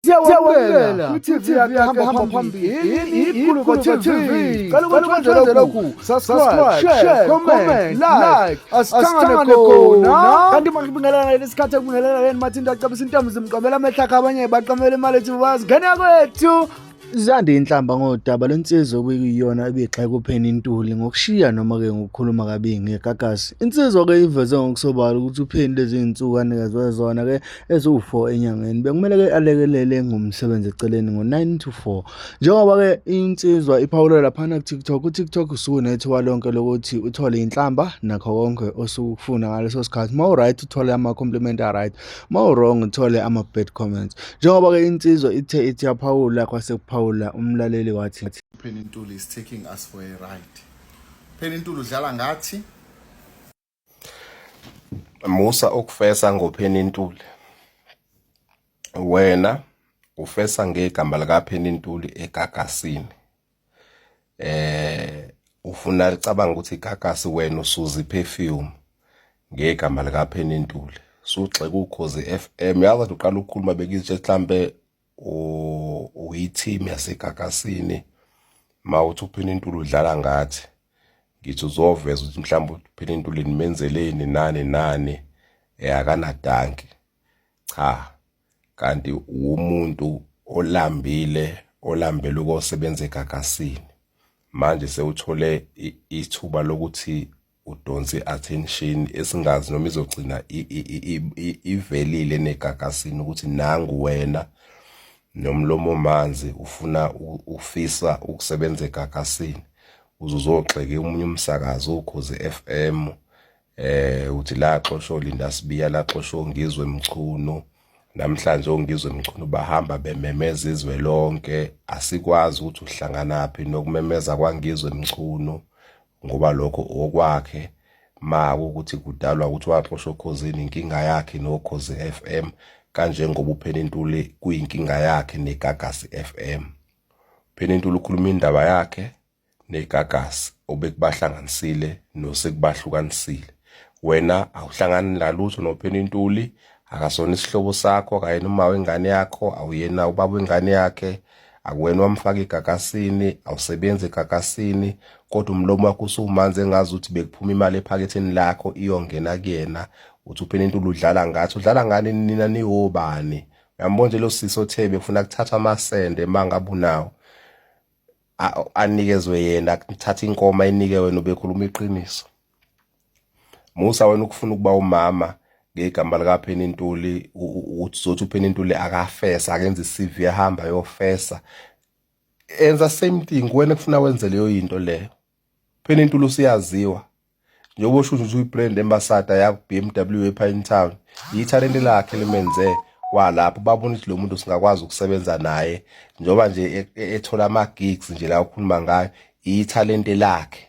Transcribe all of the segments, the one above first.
siyawamukela kwi-tv yakahamba phambili ikhuluko tv cela ukuthi wenzele lokhu subscribe share comment like asithangane khona kanti manje kubingelana leli sikhathi ekubingelana leni mathinto acebisa intombi zimqomela amehla akhe abanye baqamela imali ethi bazingena kwethu Zande inhlamba ngodaba lensizwa okuyiyona ebigxeka uPenny Ntuli ngokushiya noma-ke ngokukhuluma kabi ngegagasi. Insizwa-ke iveze ngokusobala ukuthi uPenny lezi zinsuku anikezwe zona-ke eziwu-4 enyangeni bekumele ke alekelele ngomsebenzi eceleni ngo-9 to 4 njengoba ke insizwa iphawula laphana ku-tiktok utiktok usuke unethiwa lonke lokuthi uthole inhlamba nakho konke osuke ukufuna ngaleso sikhathi uma uright uthole ama-compliment aright uma urong uthole ama-bad comments njengoba ke insizwa ithe ithi yaphawula kwase kuphawula umlaleli wathi Penintuli is taking us for a ride Penintuli udlala ngathi Musa ukufesa ngopheni intuli wena ufesa ngegama likapheni intuli egagasini eh ufuna licabanga ukuthi igagasi wena usuzi perfume ngegama likapheni intuli sugxeka ukhozi FM yazi uqala ukukhuluma bekizitshe mhlambe uyi-team yasegagasini ma uthi uphina intuli udlala ngathi ngithi uzoveza ukuthi mhlawumbe uphina intuli nimenzeleni nani nani eh, akanadanki cha kanti umuntu olambile olambele ukosebenza egagasini manje sewuthole ithuba lokuthi udonse i-attention esingazi noma izogcina ivelile negagasini ukuthi nangu wena nomlomo manzi ufuna ufisa ukusebenza egagasini uzozogxeke umunye umsakazi ukhozi FM eh uthi la xoshwa Linda Sibiya la xoshwa uNgizwe Mchunu namhlanje uNgizwe Mchunu bahamba bememeza izwe lonke asikwazi ukuthi uhlanganaphi nokumemeza kwaNgizwe Mchunu ngoba lokho okwakhe ma ukuthi kudalwa ukuthi waxoshwa okhozini inkinga yakhe nokhozi FM kanjengoba uPhenintuli kuyinkinga yakhe neGagasi FM Phenintuli ukhuluma indaba yakhe neGagasi obekubahlanganisile nosekubahlukanisile wena awuhlangani nalutho noPhenintuli akasona isihlobo sakho akayena uma wengane yakho awuyena ubaba wengane yakhe akuwena wamfaka igakasini awusebenzi egakasini kodwa umlomo wakho usumanzi engazi ukuthi bekuphuma imali ephaketheni lakho iyongena kuyena uthi uphela into udlala ngathi udlala ngani nina niwobani uyambona nje lo sisi othe befuna kuthatha amasende mangabunawo anikezwe yena kuthatha inkomo ayinike wena ubekhuluma iqiniso Musa wena ukufuna ukuba umama ngegama likapheni intuli ukuthi zothi upheni intuli akafesa akenze i-CV ahamba yofesa enza same thing wena kufuna wenze leyo yinto leyo pheni intuli usiyaziwa njengoba usho ukuthi uyi-brand ambassador yakho BMW epha in town yithalente lakhe limenze kwalapho babona ukuthi lo muntu singakwazi ukusebenza naye njengoba nje e, e, ethola ama-gigs nje la ukhuluma ngayo yithalente lakhe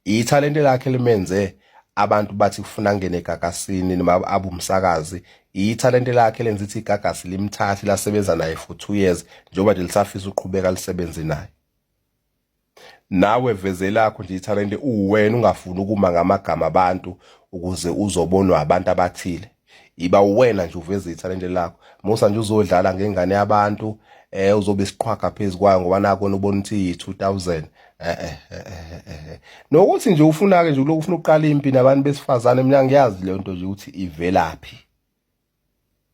ithalente lakhe limenze abantu bathi kufuna angene egagasini noma abe umsakazi ithalente lakhe lenza ithi igagasi limthathi lasebenza naye for two years njengoba nje lisafisa uqhubeka lisebenze naye nawe veze lakho nje ithalente uwena ungafuni ukuma ngamagama abantu ukuze uzobonwa abantu abathile iba uwena nje uveza ithalente lakho musa nje uzodlala ngengane yabantu eh uzobe siqhwaga phezukwayo ngoba nako nobona ukuthi 2000 eh, eh eh eh nokuthi nje ufuna ke nje lokhu ufuna uqala impi nabantu besifazane mina ngiyazi le nto nje ukuthi ivelaphi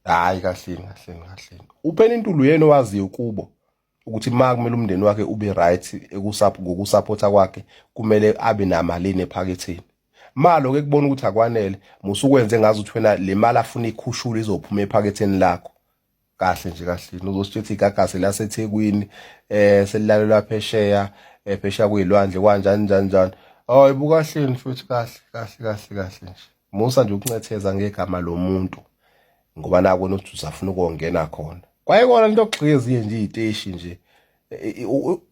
hayi kahle kahle kahle uphela intulu yena owaziyo kubo ukuthi ma kumele umndeni wakhe ube right ngokusaphotha kwakhe kumele abe namalini ephaketheni malo ke kubona ukuthi akwanele musukwenze ngazi ukuthi wena le mali afuna ikhushule izophuma ephaketheni lakho kahle nje kahle uzosithetha igagase laseThekwini eh selilalelwa phesheya eh, phesheya kuyilwandle kwanjani njani njani hayi bukahleni futhi kahle kahle kahle kahle nje Musa nje ukuncetheza ngegama lomuntu ngoba nako nothi usafuna ukongena khona. Kwaye kona into okugxika ezinye nje iziteshi nje.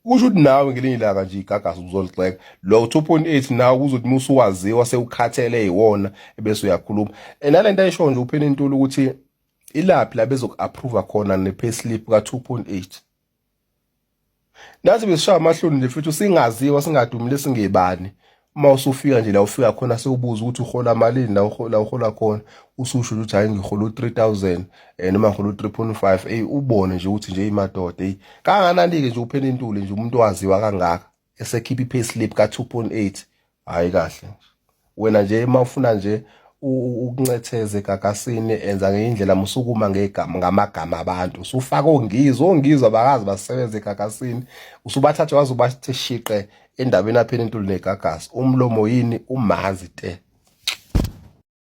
Kusho ukuthi nawe ngelinye ilanga nje igagasi uzolixeka. Lo 2.8 nawe kuzothi musa uwaziwa sewukhathele iwona ebese uyakhuluma. Enalento ayisho nje uphela intuli ukuthi ilaphi la bezoku approve khona ne payslip ka 2.8. nathi besishaya amahloni nje futhi singaziwa singadumile singebani uma usufika nje la ufika khona sewubuza ukuthi uhola malini la uhola uhola khona ususho ukuthi hayi ngihola u3000 eh noma ngihola u3.5 ey ubone nje ukuthi nje imadoda ey kanganani ke nje uphela intuli nje umuntu waziwa kangaka esekhipha i-pay slip ka-2.8 hhayi kahle wena nje uma ufuna nje ukuncetheze gagasini enza ngeyindlela musukuma ngegama ngamagama abantu usufaka ongizi ongizi abakazi basebenze egagasini usubathathe waze ubathe shiqe endaweni aphela intuli negagasi umlomo yini umanzi te